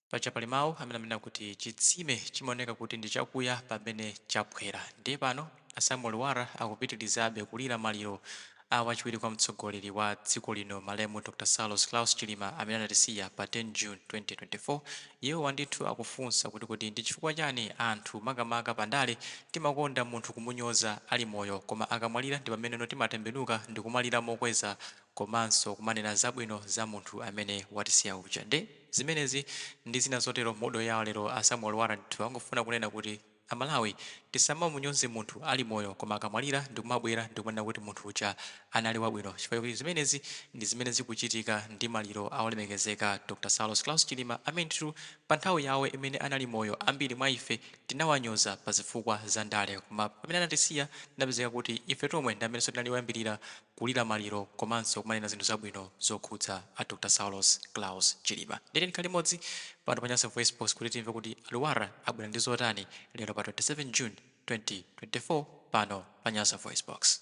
Paja pali mawu amene amanena kuti chitsime chimaoneka kuti ndi chakuya pamene chaphwera. Ndiye pano a Samuel Lwara akupitilizabe kulira maliro a wachiwiri kwa mtsogoleri wa dziko lino malemu Dr Saulos Klaus Chilima amene anatisiya pa 10 June 2024. Iwowa ndithu akufunsa kuti kodi ndi chifukwa chani anthu makamaka pa ndale timakonda munthu kumunyoza ali moyo koma akamwalira ndi pameneno timatembenuka ndikumalira mokweza komanso kumanena zabwino za munthu amene watisiya uja. Nde. Zimenezi ndi zina zotero modo yawo lero a Samuel Lwara ndithu angofuna kunena kuti a Malawi tisamamunyoze munthu ali moyo koma akamwalira ndikumabwera ndikumanena kuti munthu uja anali wabwino chifukwa choti zimenezi ndi zimene zikuchitika ndi maliro a olemekezeka Dr Saulos Klaus Chilima amene ndithu pa nthawi yawo imene anali moyo ambiri mwa ife Tinawanyoza pa zifukwa za ndale, koma pamene anatisiya, tinapezeka kuti ife tomwe ndi amenenso tinali oyambirira kulira maliro komanso kumanena zinthu zabwino zokhudza a Dr Saulos Klaus Chilima. Ndiye tikhale limodzi pano pa Nyasa VoiceBox kuti timve kuti a Lwara abwera ndi zotani lero pa 27 June 2024 pano pa Nyasa VoiceBox.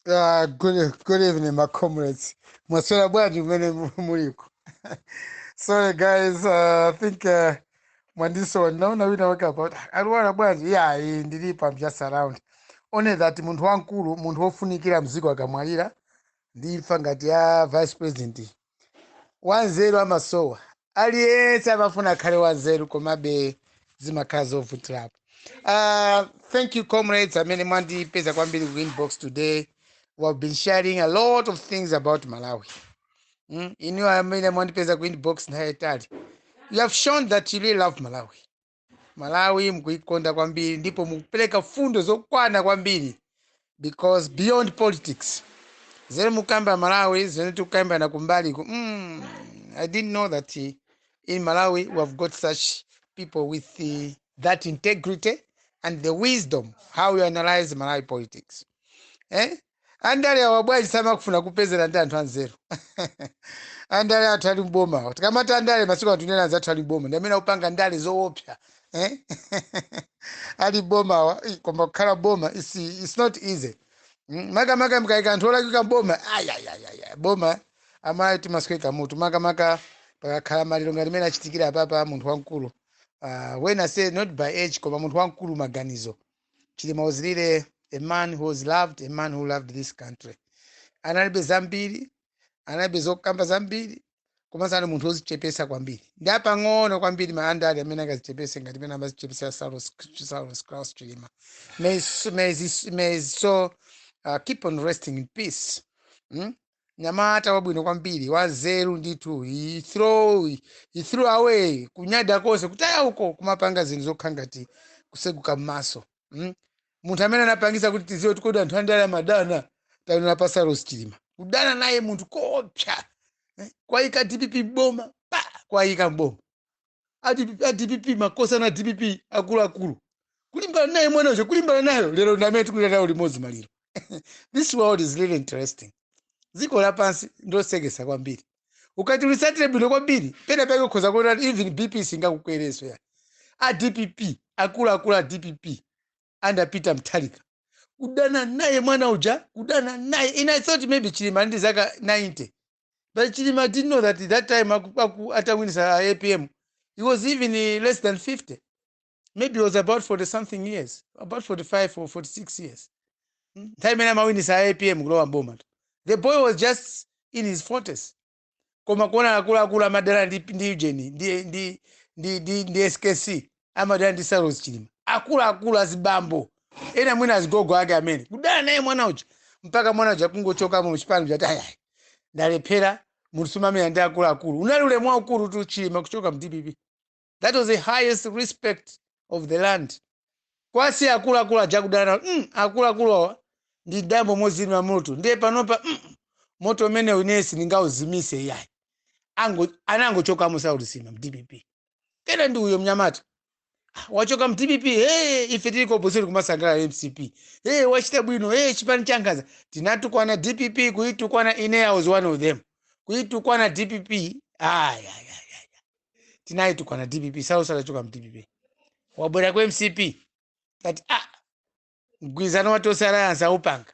Uh, good, good evening, my comrades. Mwaswera bwanji kumene mu- muliko. Sorry guys, uh, I think uh, mwandisowa naona wina wake about a Lwara bwanji yeah, iyayi ndilipo I'm just around. Only that munthu wamkulu, munthu wofunikira mziko akamwalira ndi imfa ngati ya vice president Wanzeru amasowa. Aliyense amafuna akhale wanzeru komabe zimakhala zovutirapo. Uh, thank you comrades amene mwandipeza kwambiri ku inbox today. We have been sharing a lot of things about Malawi. Mm? Inu amene mwandipeza ku inbox nthawi yayitali. You have shown that you really love Malawi. malawi mukuikonda kwambiri ndipo mukupereka fundo zokwana kwambiri because beyond politics zene mukukamba malawi zene tikukambirana kumbali ku mm, i didn't know that eh, in malawi we have got such people with eh, that integrity and the wisdom how you analyze malawi politics eh? Andale awa bwanji samakafuna kupeza ndi anthu anzeru andale athu ali mboma awa tikamati andale masiku ano tikunena anzathu ali mboma ndi amene akupanga ndale zoopsa eh? ali mboma awa ih, koma kukhala boma it's, it's not easy Mm, makamaka mkaika anthu olakwika mboma ayayayaya boma amatiswetsa mutu makamaka pakakhala maliro ngati mmene achitikira apapa munthu wamkulu uh, when I say not by age koma munthu wamkulu maganizo chilima was really a man who was loved a man who loved this country analibe zambiri analibe zokamba zambiri komanso anali munthu wozichepesa kwambiri ndi apang'ono kwambiri mwa andale amene angazichepese ngati mene amazichepesera saulos Saulos Klaus chilima may, his- may, his- may his soul uh, keep on resting in peace mm? Mnyamata wabwino kwambiri, wanzeru ndithu. He throw, he threw away kunyada konse, kutaya uko, kumapanga zinthu zokhala ngati kuseguka m'maso. Mm? Munthu amene anapangisa kuti tiziwe kuti kodi anthu andale amadana, taonera pa Saulos Chilima. Kudana naye munthu koopsa. Eh? Kuwayika DPP m'boma, kuwayika m'boma. a DP a dpp makosana a dpp akuluakulu kulimbana naye mwana uja kulimbana nayo lero ndi amene tikulira nayo limodzi maliro this world is really interesting dziko lapansi ndilosekesa kwambiri ukati ulisatire bwino kwambiri pena pake ukhoza kuona kuti even bp singakukwereso ya a dpp akuluakulu a dpp under Peter Mutharika kudana naye mwana uja kudana naye and I thought maybe chilima ndi zaka 90 But Chilima didn't know that that time aku, aku atawinisa a APM, he was even eh, less than 50. Maybe he was about 40 something years, about 45 or 46 years. Mm. Nthawi imene amawinisa a APM kulowa mboma. tu. The boy was just in his 40s. Koma kuona akuluakulu madala ndi ndi UTM ndi ndi ndi ndi, ndi SKC. amadana ndi saulos chilima akuluakulu azibambo ena mwina azigogo ake amene kudana naye mwana uja mpaka mwana uja kungochokamo mchipani chati ayayi ndalephera munthu sumamenya ndi akuluakulu unali ulemu waukulu tu chilima kuchoka mdpp that was the highest respect of the land kwa azi akuluakulu aja kudana nawo mm, akuluakulu awa ndi dambo mozima moto ndiye panopa mm, moto umenewu inesi ndingauzimise iyayi ango anangochokamo saulos chilima mdpp kena ndi uyo mnyamata Ah, wachoka mu dpp hey, ife tili ku opposition kumasangalala mcp hey, wachita bwino hey, chipani chankhanza tinatukwana dpp kuyitukwana ine i was one of them kuyitukwana dpp ayi ayi ayi tinayitukwana dpp saulosi atachoka mu dpp wabwera ku mcp kuti ah, mgwirizano wa tonse alliance awupanga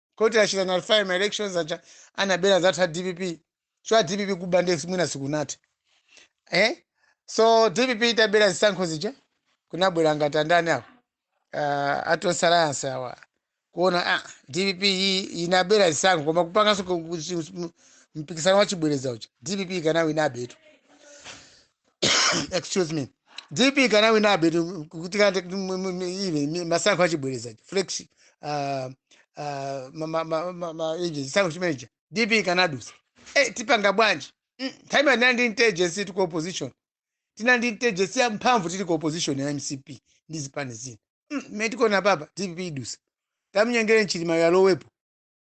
koti achita nullify ma elections aja anabera zathu a dpp so a dpp kuba ndiye mwina sikunati eh? so dpp itabera zisankho zija kunabwera ngati andani awo uh, atonse alliance awa kuona ah, dpp iyi inabera zisankho koma kupanganso ku- ku- chi- mu- mpikisano wa chibwereza uja dpp ikanawinabetu excuse me dpp ikanawinabe zisankho achibwereza fresh ah, ah, ma- ma- ma- ma- ma- ichi, chisankho chimenechi dpp ikanadusa Eh, tipanga bwanji Mm, nthawi imene tinali ndi intelligence tili ku opposition tinali ndi intelligence ya mphamvu tili ku opposition ya mcp ndi zipani zina Mm, mmene tikuona apapa dpp idusa tamnyengere chilima yalowepo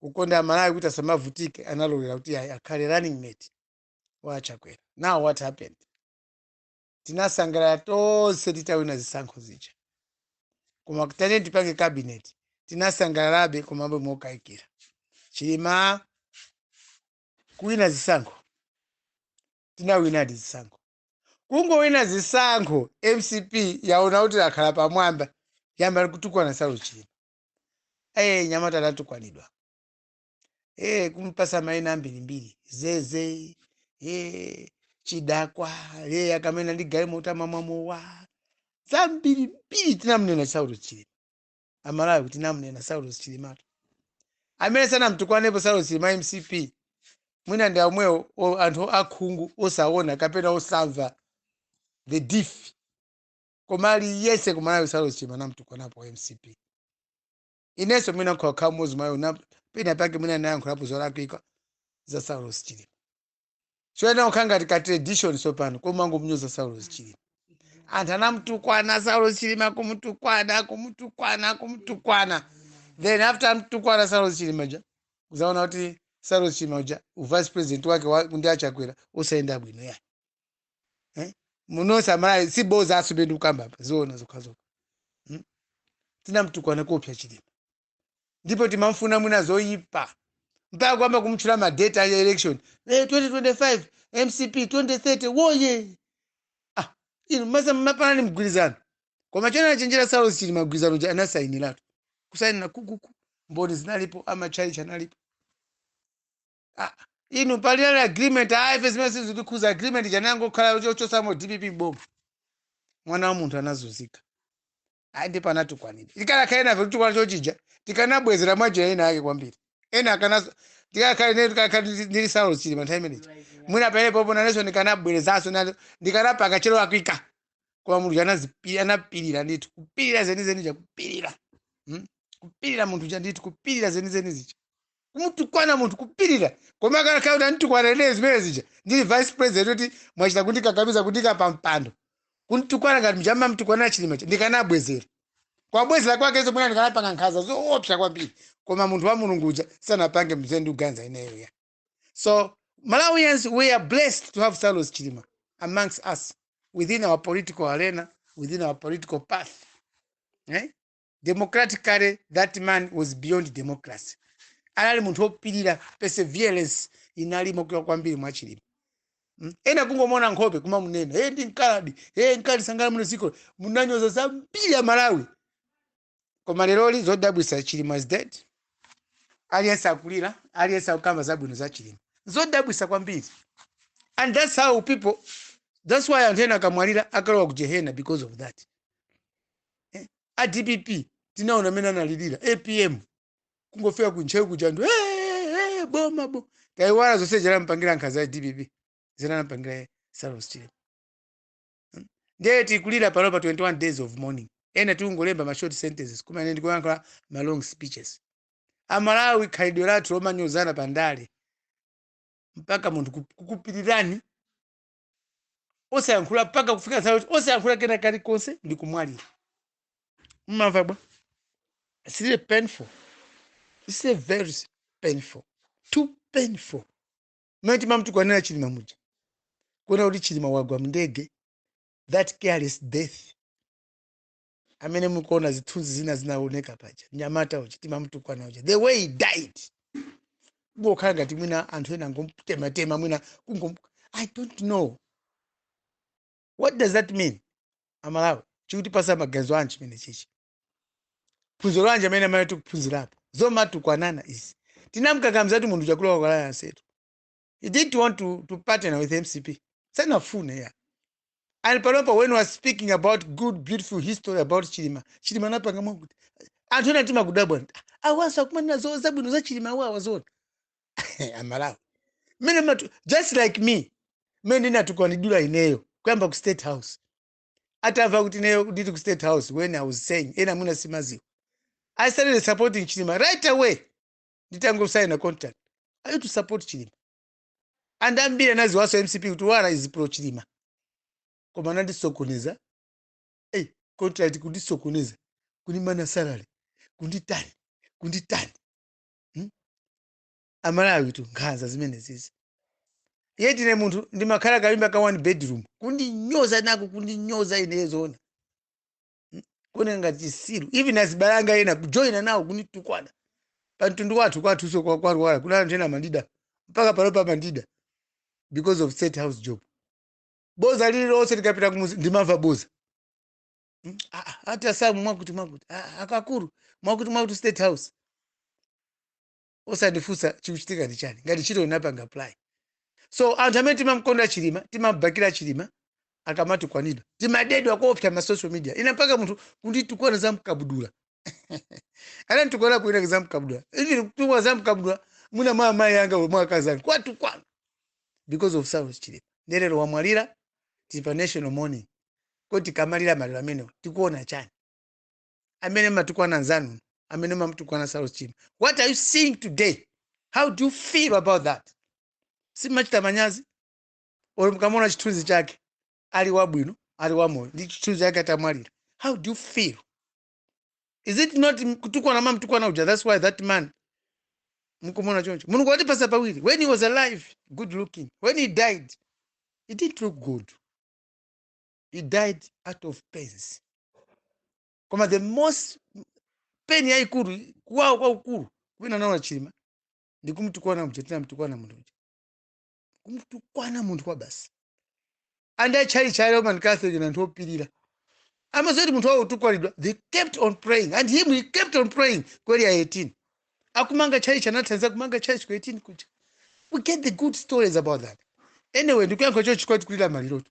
kukonda amalawi kuti asamavutike analolera kuti ayi akhale running mate wa achakwera now what happened tinasangalala tonse titawina zisankho zija koma kutane tipange cabinet tinasangalalabe komabe mokayikira chilima kuwina zisankho tinawinadi zisankho kungowina zisankho mcp yaona kuti yakhala pamwamba yayamba kutukwana saulos chilima ee mnyamata anatukwanidwa ee kumpatsa maina ambirimbiri zeze ee chidakwa ee akamayenda ndi galimoto amamwa mowa zambirimbiri tinamnena saulos chilima amalawi tinamnena saulos chilimatu amene sanamtukwanepo saulos chilima mcp mwina ndi amwewo o- anthu akhungu osaona kapena osamva the diff koma aliyese ku malawi saulos chilima anamtukwanapo mcp inenso mwina nkukhala mmodzi mwa iwo na- pena pake mwina ndinayankhulapo zolakwika za saulos chilima choyamba kukhala ngati ka tradition tsopano kumangomnyoza saulos chilima anthu anamtukwana saulos chilima kumutukwana kumutukwana kumutukwana then after amtukwana saulos chilima uja uzaona kuti saulos chilima uja uvice president wake wa- ndi achakwera sunayende bwino ya eh? muno nonse amalawi si boza asube ndi kukamba apa zoona zokhazokha hmm? tinamtukwana koopsa chilima ndipo timamfuna mwina zoyipa mpaka kuyamba kumatchula madate a election eh, 2025 mcp 2030 woye ah, inu masa mapanani mgwirizano koma poona anachenjera saulos chilima mgwirizano uja anasayiniratu kusayinira kukuku mboni zinalipo amatchalichi analipo Ah, inu panali agreement aife zimene sizikutikhudza agreement chanangokhala chochotsamo dpp m'boma mwana wa munthu anazunzika ayi ndipo anatukwanidwa tikanakhala ena afe kutukwana chochija tikanabwezera mwanjira ina yake kwambiri ena akanazo ndikanakhala ine ndikanakhala ndili- ndili saulos chilima panthawi imene ija mwina pamene popo nanenso ndikanabwezeranso nalo ndikanapanga cholakwika koma mulungu anazipi- anapirira ndithu kupirira zenizeni zija kupirira Hmm? kupirira munthu uja ndithu kupirira zenizeni zija kumutukwana munthu kupirira koma zikanakhala kuti anditukwana ine zimene zija ndili vice president kuti mwachita kundikakamiza kundiika pa mpando kunditukwana ngati muja amamtukwanira chilima uja ndikanabwezera kubwezera kwakenso mwina ndikanapanga nkhanza zoopsa kwambiri koma munthu wa mulungu uja sanapange zimene ndikuganiza ineyo ya so malawians we are blessed to have saulos chilima amongst us within our political arena within our political path eh? democratically that man was beyond democracy anali munthu wopirira perseverance inali yokula kwambiri mwa Chilima Mm. ena kungomona nkhope kumamunena hey, ndi mkaladi hey, mkadali sangalamulire muno dziko munanyoza zambiri Amalawi koma lero zodabwisa chilima is dead aliyense akulira aliyense akukamba zabwino za chilima zodabwisa kwambiri and that's how people that's why anthu ena akamwalira akalowa ku jehena because of that eh? a dpp tinaona amene analilira apm kungofika ku ntcheu kuja anthu "Eh, eh, eh, boma bo taiwala zonse zinampangira nkhanza a dpp zinampangira saulos chilima Mm. ndiye tikulira pano pa 21 days of mourning ena tikungolemba ma short sentences koma ine ndikuyankhula ma long speeches amalawi khalidwe lathu lomanyozana pa ndale mpaka munthu ku- kukupirirani osayankhula mpaka kufika nthawi yoti osayankhula kena kalikonse ndi kumwalira mmamva bwa it's really painful it's a very painful too painful mmene timamtukwanirana chilima muja kuona kuti chilima wagwa mndege that careless death amene mukuona zithunzi zina zinaoneka paja mnyamata uja timamtukwana uja the way he died kungokhala ngati mwina anthu ena angomtematema mwina kungom i don't know what does that mean amalawi chikutipasa maganizo anji chimene chichi phunziro lanji amene amene tikuphunzirapo zomatukwanana izi tinamkakamizatu munthu chakula Kwa Lwara asetu he didn't want to, to partner with mcp sanafune ya and panopa when he was speaking about good beautiful history about chilima chilima anapanga mwakuti anthu ena timakudabwani nti, "Ah, awanso akumanena zoti zabwino za chilima awo awazona amalawi mmene matu just like me mmene ndinatukwanidwira ineyo kuyamba ku state house atamva kuti ineyo ndili ku state house when i was saying ena mwina simaziwa i started supporting chilima right away nditangosaina contract i used to support chilima and ambiri anaziwanso mcp kuti Lwara is pro chilima koma anandisokoneza hey, contract kundisokoneza kundimana salary kunditani kunditani hmm? amalawitu nkhanza zimenezizi yet ine munthu ndimakhala kanyumba ka one bedroom kundinyoza nako kundinyoza ineyo zoona kuoneka ngati chisiru even azibale anga ena kujoyina nawo kunitukwana pa mtundu wathu kwathunso kwa- kwa Lwara kuli anthu ena amandida mpaka pano amandida because of state house job boza lililonse likapita kumuzi ndimamva boza Mm, ah, ah, ati asamu mwakuti mwakuti Ah, ah, akakulu mwakuti mwakuti state house osandifunsa chikuchitika ndi chiyani ngati ntchito inapanga apply so anthu amene timamukonda chilima timabakira chilima akamatukwanidwa timadedwa koopsa ma social media ina mpaka munthu kunditukwana za mkabudula ananditukwana kuinake za mkabudula even kutukwana za mkabudula mwina mwa amayi anga mwa akazi anga kuwatukwana because of saulos chilima nde lero wamwalira tili pa national mourning kodi tikamalira maliro amenewo tikuona chiyani amene mumatukwana anzanu amene mumamutukwana saulos chilima what are you seeing today how do you feel about that simuchita manyazi olo mukamona chithunzi chake ali wabwino ali wamoyo ndi chithunzi chake atamwalira how do you feel is it not m- kutukwana mumamtukwana kuja that's why that man mukumuona choncho mulungu watipatsa pawiri when he was alive good looking when he died he didn't look good he died out of pains koma the most pain yaikulu kuwawa kwakukulu kumene anaona chilima ndi kumtukwana kuja tinamtukwana munthu uja kumtukwana munthu kwabasi and achalichi cha roman catholic ndi anthu opirira amadziwa kuti munthu wawo akutukwanidwa they kept on praying and him he kept on praying ku area 18 akumanga chalichi anathandiza kumanga chalichi ku 18 kuja we get the good stories about that anyway ndikuyankhula chonchi poti tikulira malirotu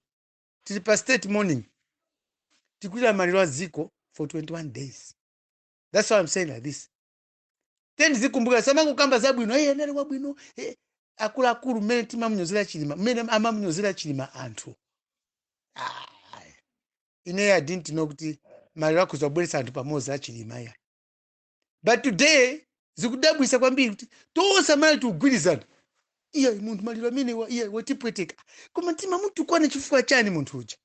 tili pa state mourning tikulira maliro a dziko for 21 days that's why i'm saying like this tiyeni tizikumbuka tisamangokamba zabwino hey, anali wabwino hey, akuluakulu mmene timamunyozera chilima mmene amamunyozera chilima anthu ah, ineyo i didn't know kuti maliro akhoza kubweretsa anthu pamodzi achilima ya but today zikudabwisa kwambiri kuti tonse amalawi tikugwirizana iyayi munthu maliro amenewa atipweteka koma timamutukwana chifukwa chani munthu uja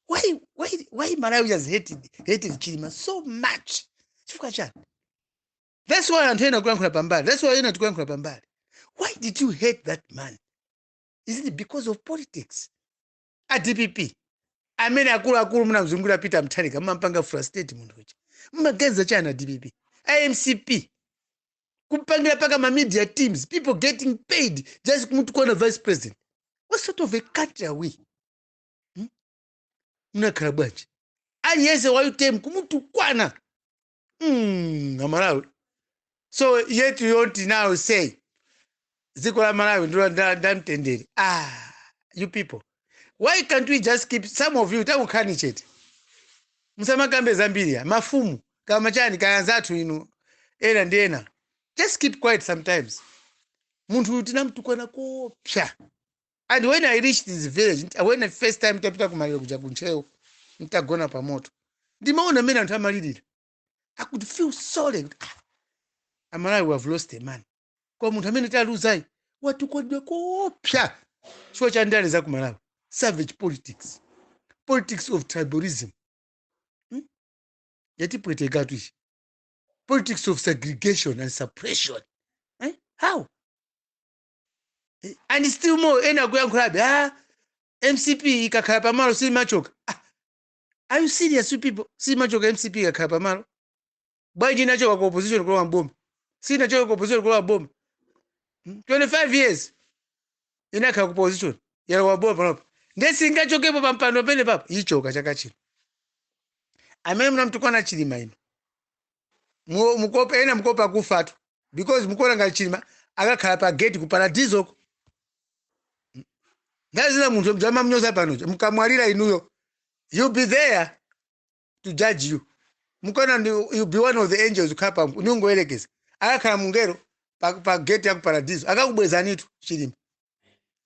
why, why, why malawi has hated, hated chilima so much chifukwa chani that's why anthu ena akuyankhula pambali that's why ena tikuyankhula pambali why did you hate that man is it because of politics a dpp amene akuluakulu munamzungulira peter mutharika mumampanga frustrate munthu uja mumaganiza chani a dpp a mcp kupangira mpaka ma media teams people getting paid just kumutukwana vice president what sort of a country are we hmm? munakhala bwanji aliyense wa utm kumutukwana mm, amalawi so yet you want to now say dziko la malawi ndilo nda- ndamtendere ah you people why can't we just keep some of you tangokhalani chete musamakambe zambiri ya mafumu kaya ma chani kaya anzathu inu ena ndi ena just keep quiet sometimes munthu uyu tinamtukwana koopsa and when i reached his village nta- when the first time tapita kumaliro kuja kuntcheu ntagona pa moto ndimaona mmene anthu amalirira i could feel sorry kuti, ah, amalawi we have lost a man koma munthu amene taluzayi watukwanidwa koopsa chifukwa cha ndale za kumalawi savage politics politics of tribalism hmm? yatipwetekatu ichi politics of segregation and suppression eh? how and still more ena akuyankhulabe ah, mcp ikakhala pamalo simachoka ah, are you serious you people simachoka mcp ikakhala pamalo bwanji inachoka ku opposition kulowa mboma sinachoka ku opposition kulowa mboma Hmm? 25 years inakhala ku opposition yalowa mboma panopa nde singachokepo pampando penepapo ichoka chaka chino amene mnamtukwana chilima ino Mu- mukopa ena mukopa kufatu because mukuona ngati chilima akakhala pa gate ku paradisoko nthawi zina munthu mudzamamnyoza panopa mkamwalira inuyo he'll be there to judge you mukuona ndi- he'll be one of the angels ukhala pa kungoyerekeza akakhala mngelo pa, pa gate ya ku paradiso akakubwezanitu chilima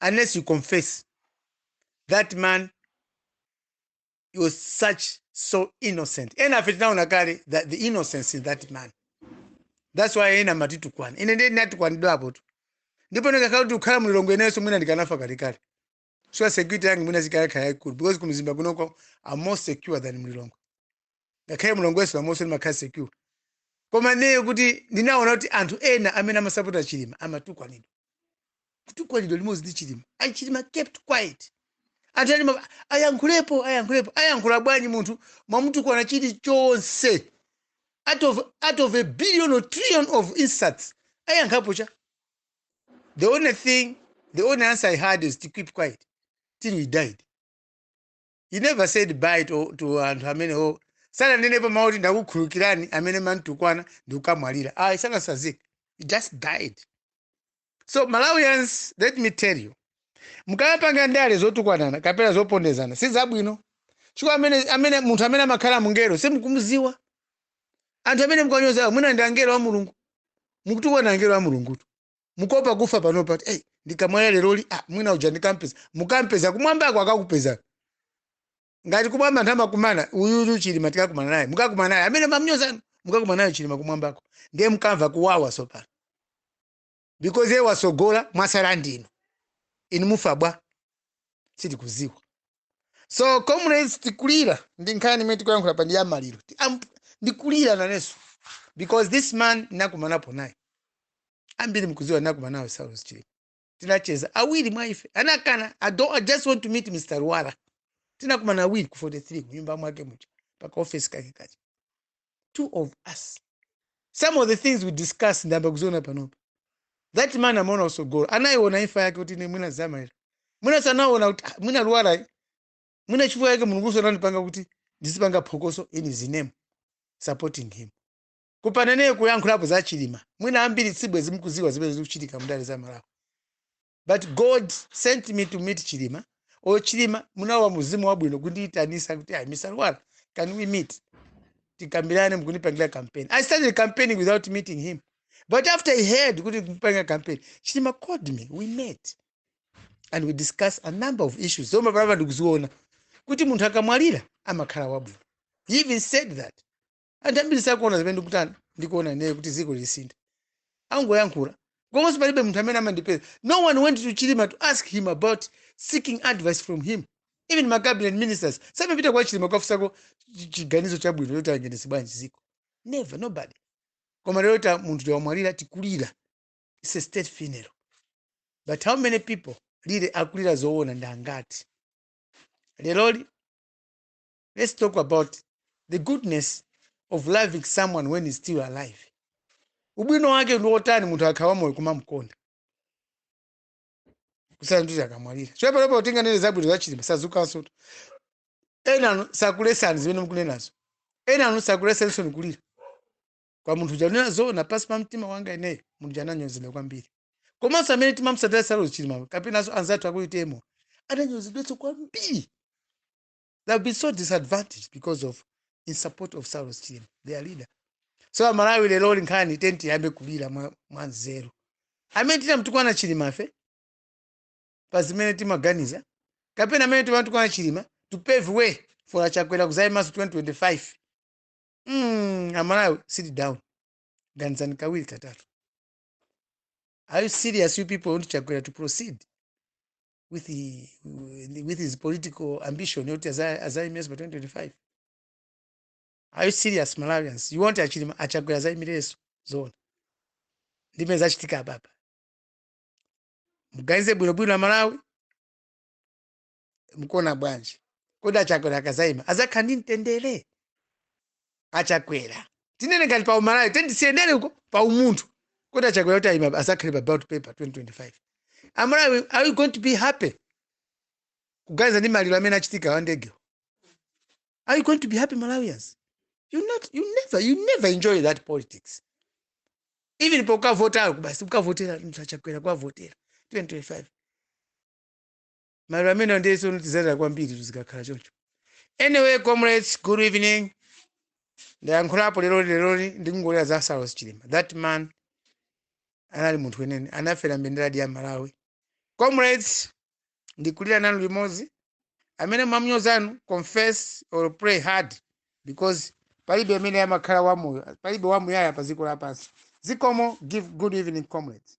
unless you confess that man was such so innocent enafe tinaona kale that the innocence in that man that's why ena matitukwana ine ndiye ndinatukwanidwapotu ndipo ndikanakhala kuti ndikukhala mulilongwe inenso mwina ndikanafa kalekale so security yanga mwina ikanakhala yaikulu because kumzimba kunoko am more secure than mulilongwe ngakhale mulilongwe sure momonso ndimakhala secure koma ineyo kuti ndinaona kuti anthu ena amene amasapota chilima amatukwanidwa kutukwanidwa limodzi ndi chilima and chilima kept quiet anthu ena amati, ayankhulepo ayankhulepo ayankhula bwanji munthu mwamutukwana chilichonse out of, out of a billion or trillion of insults ayankhapo chani the only thing the only answer he had is to keep quiet till he died he never said bye to, to anthu amenewo sananenepo mawu kuti ndakukhulukirani amene mantukwana ndikukamwalira ayi sanasazike he just died so malawians let me tell you mukayapanga ndale zotukwanana kapena zopondezana si zabwino chifukwa amene, amene munthu amene amakhala mngelo simukumuziwa anthu amene mukuwanyozawo mwina ndi angelo a mulungu mukutukwana angelo a mulungutu mukopa kufa panopa kuti hey, ndikamwalira leroli ah, mwina uja ndikampeza mukampeza kumwambako akakupeza ngati kumwamba anthu amakumana uyuyu chilima tikakumana naye mukakumana naye amene mamnyozanu mukakumana naye chilima kumwambako ndiye mkamva kuwawa sopano because iye wasogola mwasala ndinu inu mufa bwanji sitikuziwa so comrades tikulira ndi nkhani imene tikuyankhula apa ndi ya maliro Ti- am- ndikulira nanenso because this man nakumanapo naye ambiri mkuziwa nakumana naye saulos chilima tinacheza awiri mwa ife anakana I, don't, i just want to meet mr Lwara tinakumana awiri ku 43 kunyumba mwake muja paka ofesi kake kaja two of us some of the things we discuss ndayamba kuziona panopa that man amaona tsogolo anayiona imfa yake kuti ine mwina zamalira mwina sanaona kuti ah, mwina lwala eh. mwina nchifukwa yake mulunguso anandipanga kuti ndizipanga phokoso in his name supporting him kupanda ine kuyankhulapo za chilima mwina ambiri sibwezi mkuziwa zimene zikuchitika mndale za malawi but God sent me to meet Chilima or Chilima munalowa mzimu wabwino kundiyitanisa kuti ayi Mr. Lwara can we meet tikambirane mukundipangila campaign I started campaigning without meeting him but after I heard kuti ndikumupangira campaign Chilima called me we met and we discussed a number of issues zomwe apapa ndikuziona kuti munthu akamwalira amakhala wabwino he even said that anthu ambiri sakuona zimene ndikutani ndikuona ineyo kuti dziko lisintha angoyankhula komanso palibe munthu amene amandipeza no one went to chilima to ask him about seeking advice from him even ma cabinet ministers samapita kwa chilima kukafunsako chi- chiganizo chabwino choti ayendetse bwanji dziko never nobody koma lero munthu wamwalira tikulira its a state funeral but how many people really akulira zoona ndi angati leroli let's talk about the goodness of loving someone when he's still alive ubwino wake ndi wotani munthu akadali wamoyo kumamkonda kusiyana nkuti akamwalira chifukwa apapa olo tinganene zabwino zachilima sazukanso enanu sakulesani zimene mukunenazo enanu sakulesenso nikulira kwa munthu uja kunena zoona pansi pa mtima wanga ineyo munthu uja ananyozedwa kwambiri komanso amene timamsatira saulos chilima kapenanso anzathu aku UTM-wo ananyozedwenso kwambiri they have been so disadvantaged because of in support of saulos chilima their leader so amalawi lero lino nkhani tiyeni tiyambe kulira mwa, mwa nzeru amene tinamtukwana chilimafe pa zimene timaganiza kapena amene timatukwana chilima to pave way for achakwera kuzayimanso 2025 mm, amalawi sit down ganizani kawiri katatu are you serious you people want chakwera to proceed with, the, with his political ambition yoti aza- azaimenso pa 2025 are you serious malawians you want achilima achakwera azaimirenso zoona ndi zimene zachitika apapa muganize bwinobwino amalawi mukuona bwanji kodi achakwera akazaima azakhala ndi mtendere achakwera tinene ngati pa umalawi tendisiyeni ndere uko pa umunthu kuti achakwera kuti ayima azakhale pa ballot paper 2025 amalawi are we going to be happy kuganiza ndi maliro amene achitika a ndegewo are you going to be happy malawians you not you never you never enjoy that politics even pokavotako basi ukavotera Chakwera kwavotera 2025 maliro amenewo ndiye tsono tizalira kwambiri tizikakhala choncho anyway comrades good evening ndayankhulapo leroli leroli ndikungolira za saulos chilima that man anali munthu weniweni anafera mbenderadi ya malawi comrades ndikulira nanu limodzi amene mwamnyozanu confess or pray hard because palibe amene amakhala wamoyo palibe wamuyaya pa dziko lapansi zikomo give good evening comrades